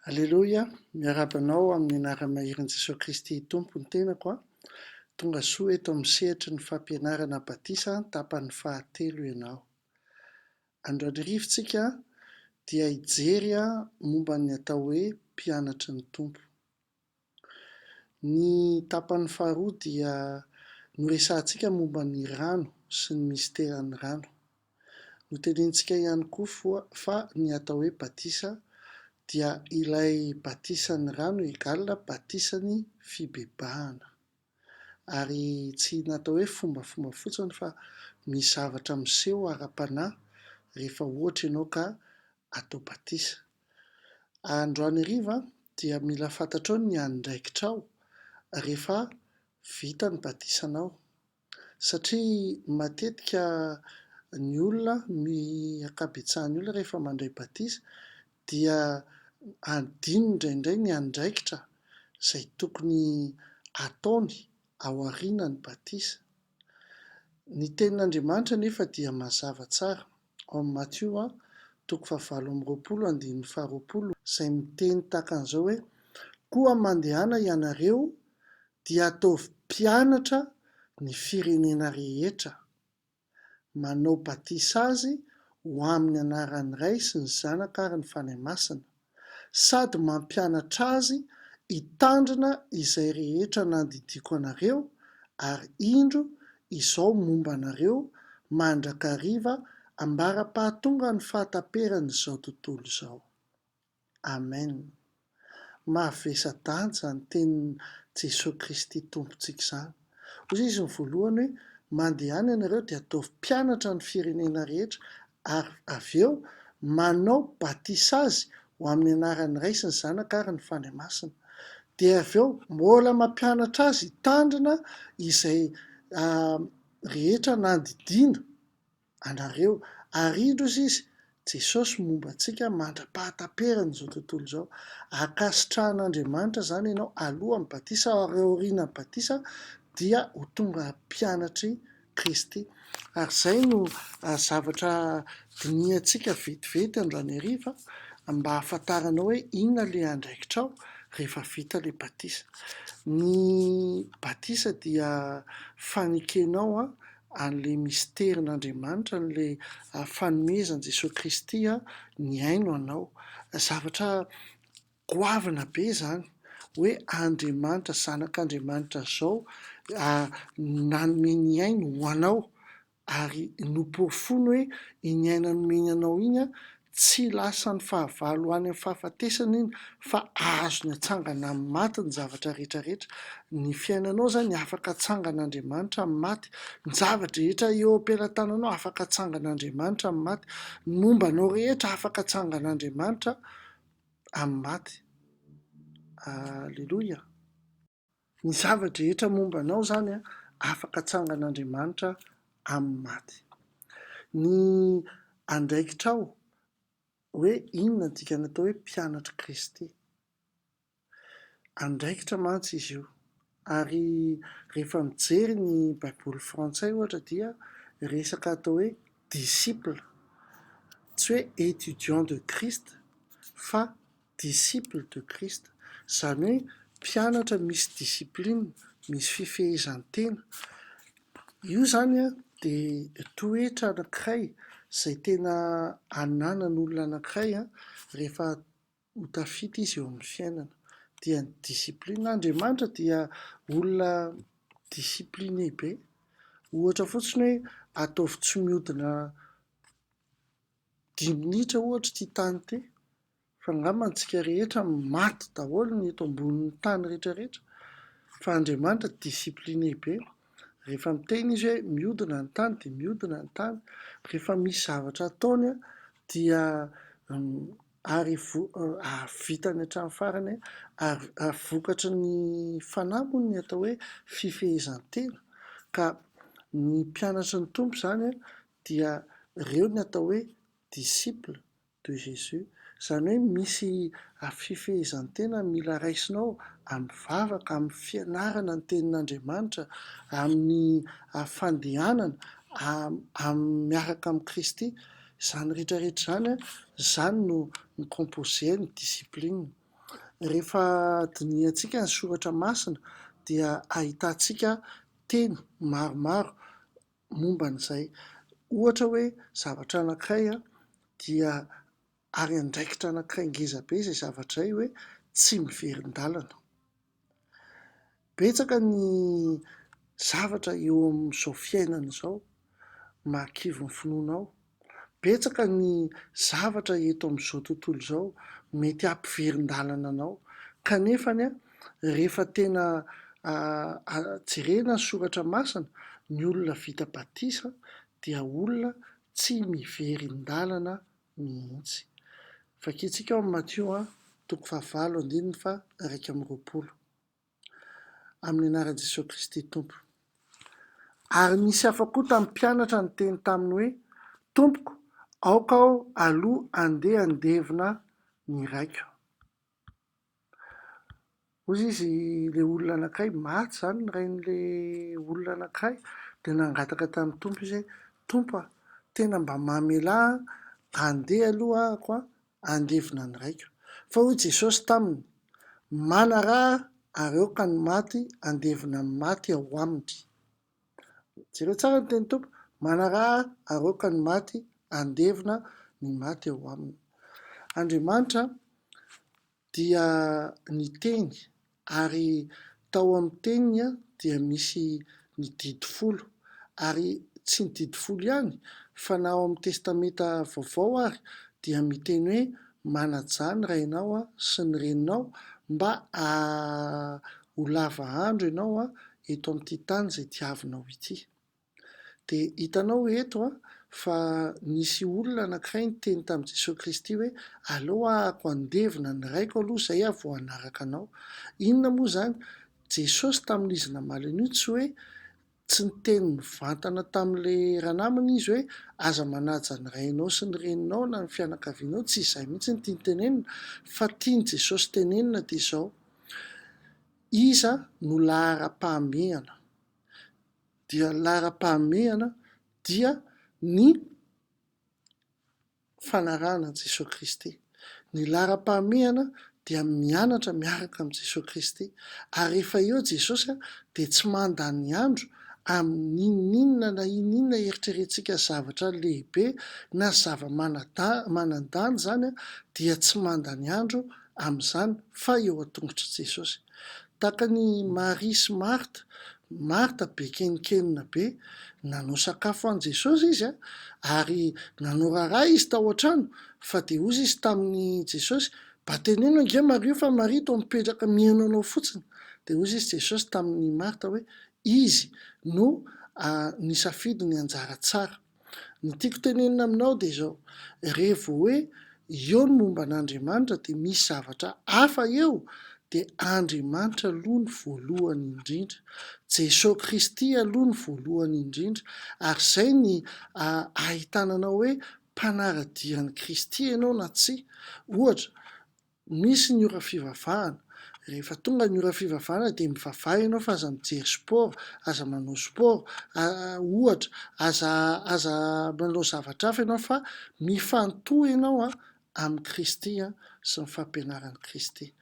Aleloia, miarahaba anao amin'ny anara-maherin' Jesoa Kristy Tompo ny tenako a! Tonga soa eto amin'ny sehatry ny fampianarana batisa tapany fahatelo ianao. Androany hariva tsika dia hijery momba ny atao hoe mpianatry ny Tompo. Ny tapany faharoa dia noresahantsika momba ny rano sy ny misiteran'ny rano. Notenenintsika ihany koa foa fa ny atao hoe batisa dia ilay batisan'ny rano égale batisan'ny fibebahana. ary tsy natao hoe fombafomba fotsiny fa misy zavatra miseho ara-panahy rehefa ohatra ianao ka atao batisa. Androany hariva dia mila fantatrao ny andraikitrao rehefa vita ny batisanao satria matetika ny olona, ny ankabetsahan'ny olona rehefa mandray batisa dia adino indraindray ny andraikitra izay tokony ataony ao aorianan'ny batisa. Ny Tenin'Andriamanitra anefa dia mazava tsara ao amin'ny Matio toko fahavalo amby roapolo andininy faharoapolo, izay miteny tahaka an'izao hoe, Koa mandehana ianareo, dia ataovy mpianatra ny firenena rehetra. manao batisa azy ho amin'ny anaran'ny Ray sy ny Zanaka ary ny Fanahy Masina, sady mampianatra azy hitandrina izay rehetra nandidiako anareo, ary indro, izao momba anareo mandrakariva ambara-pahatongan'ny fahataperan'izao tontolo izao. Amen! Mavesa-danja izany tenin'i Jesoa Kristy Tompontsika izany. Hoy Izy ny voalohany hoe, Mandehana ianareo dia ataovy mpianatra ny firenena rehetra ary avy eo manao batisa azy ho amin'ny anaran'ny Ray sy ny Zanaka ary ny Fanahy Masina. Dia avy eo mbola mampianatra azy hitandrina izay rehetra nandidiana. anareo ary indro ozy izy Jesosy momba antsika mandra-pahataperany izao tontolo izao akasitrahan'Andriamanitra izany ianao alohan'ny batisa ary aorianan'ny batisa dia ho tonga mpianatry Kristy ary izay no zavatra dinihantsika vetivety androany hariva mba hahafantaranao hoe inona ilay andraikitrao rehefa vita ilay batisa ny batisa dia fanekenao an'ilay misterin'Andriamanitra, an'ilay fanomezan'i Jesoa Kristy ny haino anao. Zavatra goavana be izany hoe Andriamanitra, Zanak'Andriamanitra izao nanome ny hainy ho anao ary noporofoiny hoe iny aina nomeny anao iny Tsy lasan'ny fahavalo ho any amin'ny fahafatesana iny fa azony atsangana amin'ny maty ny zavatra rehetra rehetra. Ny fiainanao izany afaka atsangan'Andriamanitra amin'ny maty. Ny zava-drehetra eo am-pelatananao afaka atsangan'Andriamanitra amin'ny maty. Ny momba anao rehetra afaka atsangan'Andriamanitra amin'ny maty. Aleloia. Ny zava-drehetra momba anao izany an, afaka atsangan'Andriamanitra amin'ny maty. Ny andraikitrao hoe inona ny dikany atao hoe mpianatr'i Kristy. Andraikitra mantsy izy io. Ary rehefa mijery ny Baiboly frantsay ohatra dia resaka atao hoe disciple, tsy hoe étudiant de Christ fa disciple de Christ, izany hoe mpianatra misy discipline, misy fifehezan-tena. Io izany dia toetra anankiray izay tena ananan'olona anankiray rehefa ho tafita izy eo amin'ny fiainana, dia ny discipline. Andriamanitra dia olona discipliné be, ohatra fotsiny hoe ataovy tsy mihodina dimy minitra ohatra ity tany ity. Fa angamba antsika rehetra maty daholo ny eto ambonin'ny tany rehetra rehetra fa Andriamanitra discipline be rehefa miteny izy hoe miodina ny tany dia miodina ny tany rehefa misy zavatra ataony dia ary vitany hatramin'ny farany ary ary vokatry ny fanahy moa ny atao hoe fifehezan-tena ka ny mpianatry ny Tompo izany dia ireo ny atao hoe disciple de Jesus, izany hoe misy fifehezan-tena mila raisinao amin'ny vavaka, amin'ny fianarana ny tenin'Andriamanitra, amin'ny fandehanana miaraka amin'i Kristy, izany rehetra rehetra izany, izany no mi-composer ny discipline. Rehefa dinihantsika ny soratra masina dia ahitantsika teny maromaro momba an'izay. Ohatra hoe zavatra anankiray dia ary andraikitra anankiray ngeza be izay zavatra izay hoe tsy miverin-dalana. Betsaka ny zavatra eo amin'izao fiainana izao mahakivy ny finoanao. Betsaka ny zavatra eto amin'izao tontolo izao mety hampiverin-dalana anao, kanefa anie rehefa tena jerena ny soratra masina, ny olona vita batisa dia olona tsy miverin-dalana mihitsy. Vakintsika ao amin'ny Matio toko fahavalo andininy faha iraika amby roapolo. Amin'ny anaran'i Jesoa Kristy Tompo. Ary nisy hafa koa tamin'ny mpianatra niteny taminy hoe, Tompoko, aoka aho aloha andeha handevina ny raiko. Hoy izy, ilay olona anankiray, maty izany ny rain'ilay olona anankiray, dia nangataka tamin'ny Tompo izy hoe, Tompo a, tena mba mamelà aho, andeha aloha ahako andevona ny raiko. Fa hoy Jesosy taminy, Manaraha ary aoka ny maty andevona ny maty ao aminy. Jereo tsara ny tenin'ny Tompo, Manaraha ary aoka ny maty andevona ny maty ao aminy. Andriamanitra dia niteny Ary tao amin'ny teniny dia misy ny didy folo, ary tsy ny didy folo ihany fa na ao amin'ny Testamenta Vaovao ary dia miteny hoe manajà ny rainao sy ny reninao mba ha ho lava andro ianao eto amin'ity tany izay diavinao ity. Dia hitanao eto an, fa nisy olona anankiray niteny tamin'i Jesoa Kristy hoe, aleo ahako handevina ny Raiko aloha izay aho vao hanaraka Anao. Inona moa izany? Jesosy tamin'izy namaly an'io tsy hoe, tsy niteny mivantana tamin'ilay ranamana Izy hoe, aza manaja ny rainao sy ny reninao na ny fianakavianao, tsy izay mihitsy no tiany tenenina, fa tian'i Jesosy tenenina dia izao, Iza no laharam-pahamehana? dia ny laharam-pahamehana dia ny fanarahana an'i Jesoa Kristy. Ny laharam-pahamehana dia mianatra miaraka amin'i Jesoa Kristy. Ary rehefa eo Jesosy dia tsy mandany andro amin'inon'inona na inon'inona eritrerentsika zavatra lehibe na zava-manan-danja izany dia tsy mandany andro amin'izany fa eo an-tongotr'i Jesosy. Takan'i Maria sy Marta, Marta be kenkenina be, nanao sakafo an'i Jesosy izy ary nanao raharaha izy tao an-trano fa dia hozy izy tamin'i Jesosy, Mba teneno ange Maria fa Maria toa mipetraka miheno anao fotsiny. Dia hozy izy Jesosy tamin'i Marta hoe, Izy no nisafidy ny anjara tsara. Ny tiako tenenina aminao dia izao, revo hoe eo ny momba an'Andriamanitra dia misy zavatra hafa eo dia Andriamanitra aloha ny voalohany indrindra, Jesoa Kristy aloha ny voalohany indrindra ary izay ny ahitana anao hoe mpanara-dia an'i Kristy ianao na tsia, ohatra Misy ny ora fivavahana. Rehefa tonga ny ora fivavahana dia mivavaha ianao fa aza mijery sport, aza manao sport, ohatra, aza aza manao zavatra hafa ianao fa mifantoha ianao an amin'i Kristy an sy ny fampianaran'i Kristy.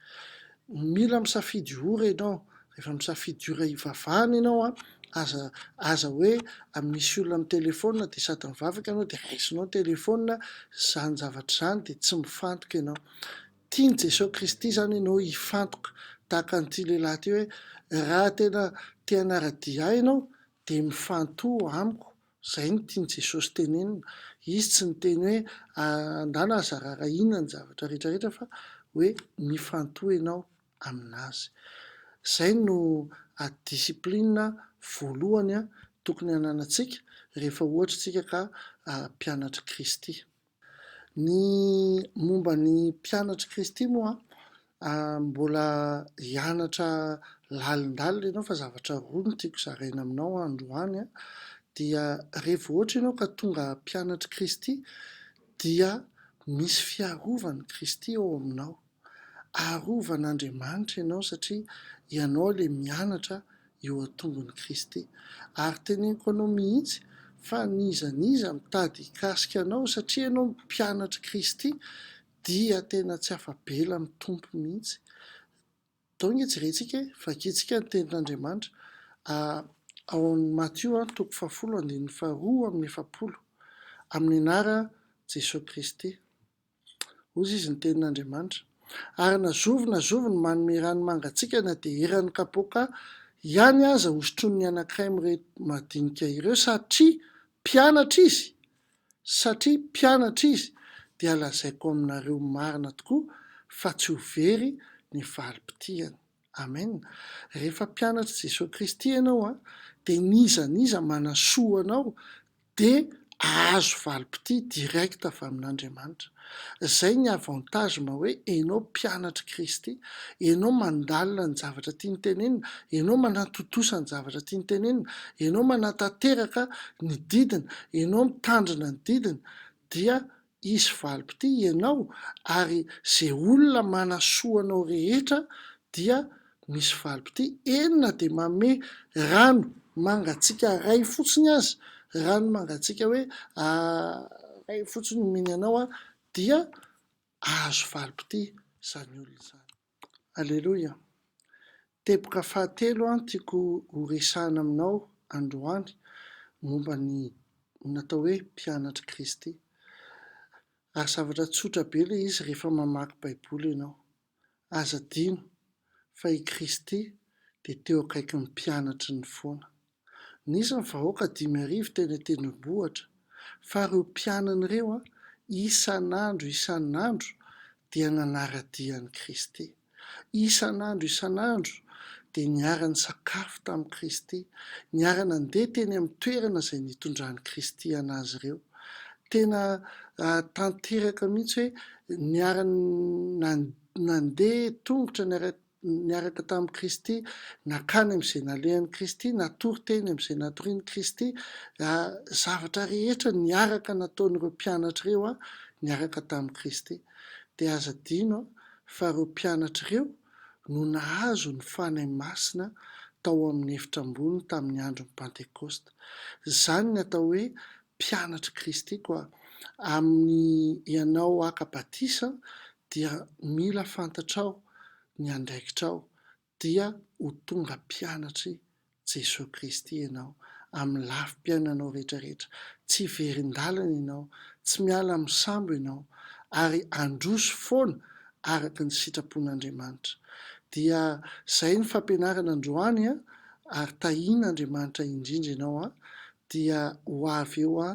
Mila misafidy ora ianao Rehefa misafidy ora hivavahana ianao an, aza aza hoe misy olona amin'ny telephone dia sady mivavaka ianao dia raisinao ny telephone, izany zavatra izany dia tsy mifantoka ianao. Tian'i Jesoa Kristy izany ianao hifantoka tahaka an'ity lehilahy ity hoe raha tena te hanara-dia ahy ianao dia mifantoha amiko, izay no tian'i Jesosy tenenina. Izy tsy niteny hoe andahy na zarara inona ny zavatra rehetra rehetra fa hoe mifantoha ianao. amin'azy. Izay no discipline voalohany tokony hananantsika rehefa ohatra isika ka mpianatr'i Kristy. Ny momba ny mpianatr'i Kristy moa mbola hianatra lalindalina ianao fa zavatra roa no tiako zaraina aminao androany dia revo ohatra ianao ka tonga mpianatr'i Kristy dia misy fiarovan'i Kristy ao aminao. Arovan'Andriamanitra ianao satria ianao ilay mianatra eo an-tongon'i Kristy. Ary teneniko anao mihitsy fa n'iza n'iza mitady hikasika anao satria ianao mpianatr'i Kristy dia tena tsy afa-bela amin'ny Tompo mihitsy. Atao ange jerentsika e, vakintsika ny tenin'Andriamanitra ao amin'ny Matio toko fahafolo andininy faharoa amin'ny efapolo, amin'ny anaran'i Jesoa Kristy. Hoy izy, Ny Tenin'Andriamanitra. Ary na zovy na zovy no manome rano mangatsiaka na dia eran'ny kapoaka ihany aza hosotroin'ny anankiray mireto madinika ireo, satria mpianatra izy, satria mpianatra izy, dia lazaiko aminareo marina tokoa fa tsy ho very ny valim-pitihany. Amen. Rehefa mpianatr'i Jesoa Kristy ianao, dia n'iza n'iza manasoa anao dia ahazo valim-pitia direct avy amin'Andriamanitra. Izay ny avantage mba hoe enao mpianatr'i Kristy, enao mandalina ny zavatra tiany tenenina, enao manatontosa ny zavatra tiany tenenina, enao manatanteraka ny didiny, enao mitandrina ny didiny dia Hisy valim-pitia hianao ary ze olona manasoa anao rehetra dia misy valim-pitia eny na dia manome rano mangatsiaka iray fotsiny aza rano mangatsiaka hoe iray fotsiny omeny anao dia ahazo valim-pitia zany olona zany. Aleloia! Teboka fahatelo an tiako ho resahina aminao androany momba ny natao hoe mpianatr'i Kristy. Ary zavatra tsotra be ilay izy rehefa mamaky baiboly ianao. Aza adino fa i Kristy dia teo akaikin'ny mpianatry ny foana. Nisy ny vahoaka dimy arivo teny an-tendrombohitra, fa ireo mpianany ireo, isan'andro isan'andro dia nanara-dia an'i Kristy. Isan'andro isan'andro dia niara-nisakafo tamin'i Kristy, niara-nandeha teny amin'ny toerana izay nitondran'i Kristy an'azy ireo. Tena tanteraka mihitsy hoe niara-nandeha tongotra niara-. niaraka tamin'i Kristy, nakany amin'izay nalehan'i Kristy, natory teny amin'izay natorian'i Kristy, zavatra rehetra niaraka nataon'ireo mpianatra ireo niaraka tamin'i Kristy. Dia aza adino fa ireo mpianatra ireo no nahazo ny Fanahy Masina tao amin'ny efitra ambony tamin'ny andron'ny Pantekosta. Izany ny atao hoe mpianatr'i Kristy koa. Amin'ny ianao haka batisa dia mila fantatrao ny andraikitrao dia ho tonga mpianatr'i Jesoa Kristy ianao amin'ny lafim-piainanao rehetrarehetra. Tsy very indalana ianao, tsy miala amin'ny sambo ianao ary handroso foana araka ny sitrapon'Andriamanitra. Dia zay ny fampianarana androany ary tahian'Andriamanitra indrindra ianao Dia ho avy eo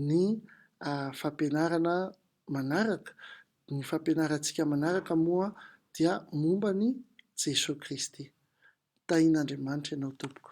ny fampianarana manaraka, ny fampianarantsika manaraka moa dia momba an'i Jesoa Kristy. Tahin'Andriamanitra ianao tompoko.